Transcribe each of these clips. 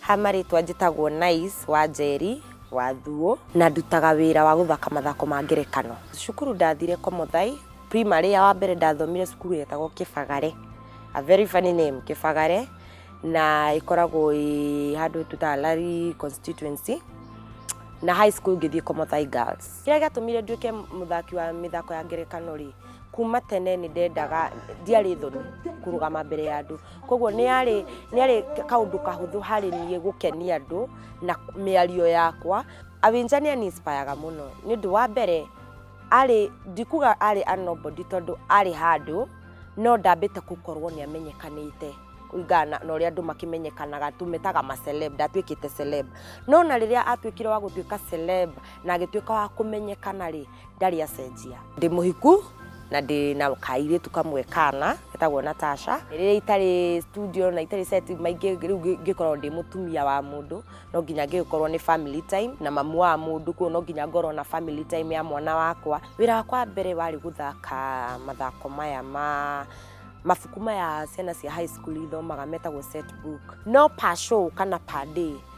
ha marĩtwa njĩtagwo Nice wa Njeri wa Thuo na ndutaga wĩra wa gũthaka mathako ma ngerekano cukuru ndathire Komothai primary ya wa mbere ndathomire cukuru yetagwo Kĩbagare a very funny name Kĩbagare na ĩkoragwo ĩ handũ tũtaga Lari constituency na high school ngĩthiĩ Komothai Girls Kĩrĩa gĩatũmire nduĩke mũthaki wa mĩthako ya ngerekano rĩ, kuma tene nĩ ndendaga ndiarĩ thoni kũrũgama mbere ya andũ koguo nĩ yarĩ nĩ yarĩ kaũndũ kahũthũ harĩ niĩ gũkenia andũ na mĩario yakwa awinja nĩ aninspiraga mũno nĩ ũndũ wa mbere arĩ ndikuga arĩ a nobody tondũ arĩ handũ no ndambĩte gũkorwo nĩ amenyekanĩte kũringana na na ũrĩa andũ makĩmenyekanaga tũmetaga maceleb ndatuĩkĩte celeb no na rĩrĩa atuĩkire wa gũtuĩka celeb na agĩtuĩka wa kũmenyekana rĩ ndarĩ acenjia ndĩ mũhiku na ndĩ na kairĩtu kamwe kana getagwo natasha rĩrĩa itarĩ studio na itarĩ set maingĩ rĩu ngĩ- ngĩkorwo ndĩ mũtumia wa mũndũ no nginya ngĩkorwo nĩ family time na mamu wa mũndũ kuo no nginya ngorwo na family time ya mwana wakwa wĩra wakwa wa mbere warĩ gũthaka mathako maya ma mabuku maya ciana cia high school ithomaga metagwo set book no per show kana per day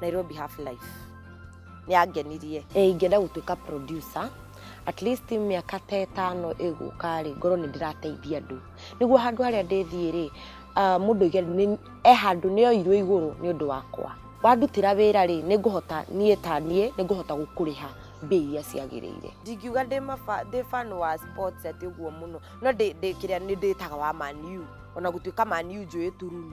nairobi half life nĩ yangenirie Eh, ingĩenda gũtuĩka producer at least mĩaka ta ĩtano ĩgũka rĩ ngorwo nĩ ndĩrateithia andũ nĩguo handũ harĩa ndĩthiĩ rĩ ah, mũndũ oige nĩ- e handũ nĩ oirwo igũrũ nĩ ũndũ wakwa wandutĩra wĩra rĩ nĩ ngũhota niĩ ta niĩ nĩ ngũhota gũkũrĩha mbia iria ciagĩrĩire ndingiuga ndĩ mafa- ndĩ fan wa sports atĩ ũguo mũno no ndĩ ndĩ kĩrĩa nĩ ndĩtaga wa maniu ona gũtuĩka maniu njũĩ tururu